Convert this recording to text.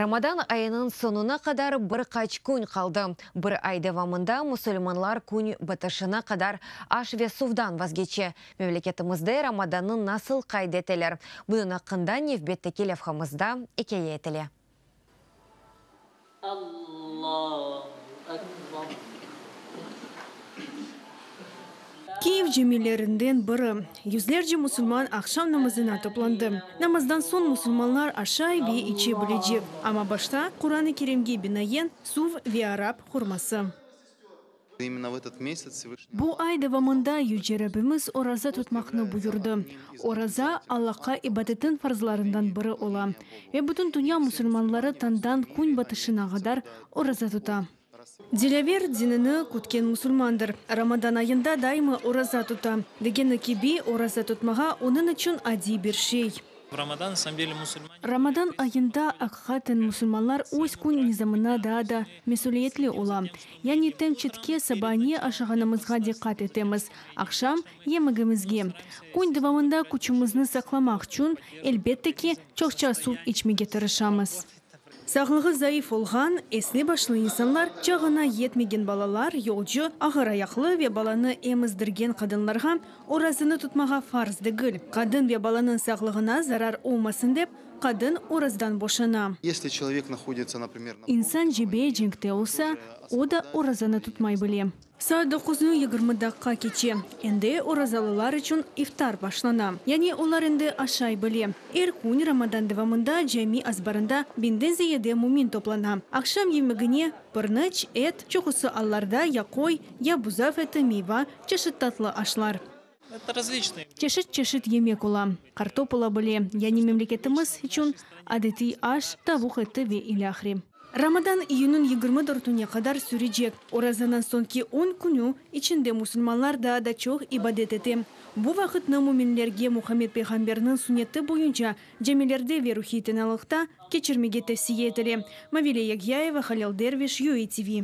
Ramadan ayınıñ soñuna qadar bir qaç kün qaldı. Bir ay devamında musulmanlar kün bitişine qadar aş ve suvdan vazgeçe. Memleketimizde Ramadannı nasıl qayd eteler, bunıñ aqqında nevbetteki levhamızda ikâye etile. Kyiv camilerinden biri. Yüzlerce musulman aqşam namazına toplandı. Namazdan soñ musulmanlar aşay ve içe bilecek, amma başta Quran-ı Kerimge binayen suv ve arap hurması. Bu ay devamında Yüce Rabbimiz oraza tutmaqnı buyurdı. Oraza, Allaqa ibadetin farzlarından biri ola, ve bütün dünya musulmanları tañdan kün batışına qadar oraza tuta. Dilâver dinini kütken musulmandır, Ramadan ayında daima oraza tuta, degeni kibi, oraza tutmağa onıñ içün adiy bir şey. Ramadan ayında, aqiqaten, musulmanlar öz kün nizamına daa da mesüliyetli ola. Yani tençitke saba ne aşağanımızğa diqqat etemiz, aqşam, yemegimizge. Kün devamında küçümizni saqlamaq içün, elbette ki, çoqça suv içmege tırışamız. Sağlığı zayıf olğan, esli başlı insanlar, çağına yetmegen balalar, yolcu, ağır ayaqlı ve balanı emizdirgen qadınlarğa orazını tutmağa farz degil. Qadın ve balanıñ sağlığına zarar olmasın dep, qadın orazdan boşana. İnsan cebe cenkte olsa, o da orazanı tutmay bile. Saat doquznı yigirmi daqqa keçe. Endi orazalılar içün iftar başlana. Yani olar endi aşay bile. Er kün Ramadan devamında cami azbarında biñden ziyade mümin toplana. Aqşam yemegine, pırnıç, et, çoqusı allarda, ya qoy, ya buzav eti, miyva, çeşit tatlı aşlar. Çeşit-çeşit yemek ola, kartop ola bile, yani memleketimiz içün adetiy aş, tavuq eti ve ilâhre. Ramadan iyünüñ yigirmi dörtüne qadar sürecek. Orazanıñ soñki on künü içinde musulmanlar daa da çoq ibadet ete. Bu vaqıtnı müminlerge Muhammed peyğamberniñ sünneti boyunca camilerde ve ruhiy tinalıqta keçirmege tevsiye etile, Mavile Yagyayeva, Halil Derviş, UATV.